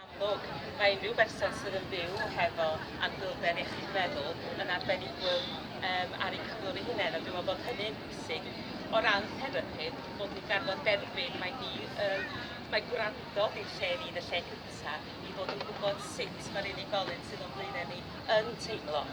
Yn amlwg, mae unrhyw berson sydd yn byw hefo anhwylder iechyd meddwl yn arbenigwr um, ar eu cyflwr eu hunain, a dwi'n meddwl bod hynny'n bwysig. O ran therapi, bod ni'n garfod derbyn, mae ni um, mae gwrando i'r lle ni yn y lle cyntaf i fod yn gwybod sut mae'r unigolyn sydd o'n blaenau ni yn teimlo.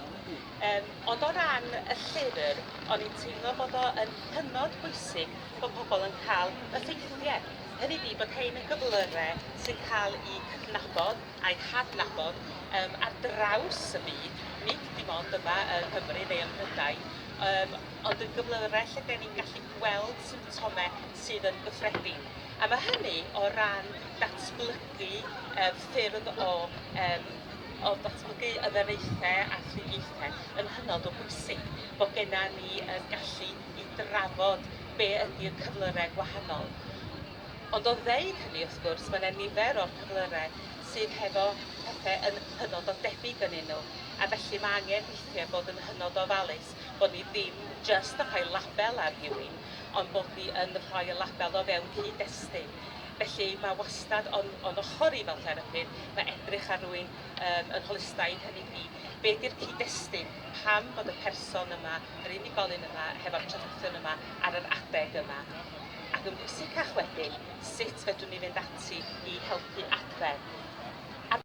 Um, ond o ran y llyfr, o'n i'n teimlo bod o'n hynod bwysig bod pobl yn cael y ffeithiau hynny ydi bod rhein yn gyflyrau sy'n cael eu cydnabod a'u hadnabod um, ar draws y byd, nid dim ond yma yng Nghymru neu ym Mhrydain, um, ond yn gyflyrau lle da ni'n gallu gweld symptomau sydd yn gyffredin. A mae hynny o ran datblygu um, ffyrdd o um, o ddatblygu ymyraethau a thriniaethau yn hynod o bwysig bod genna ni yn gallu i drafod be ydi'r cyflyrau gwahanol. Ond o ddeud hynny, wrth gwrs, mae yna nifer o'r cyflyrau sydd hefo pethau yn hynod o debyg yn nhw, a felly mae angen weithiau bod yn hynod o ofalus bod ni ddim jyst yn rhoi label ar rhywun, ond bod ni yn rhoi y label o fewn cyd-destun. Felly, mae wastad o'n, o'n ochr i fel therapydd, mae edrych ar rywun um, yn holistaidd, hynny ydi, be di'r cyd-destun, pam bod y person yma, yr unigolyn yma, hefo'r traddodion yma ar yr adeg yma. Ac yn bwysicach wedyn, sut fedrwn ni fynd ati i helpu adfer. Ar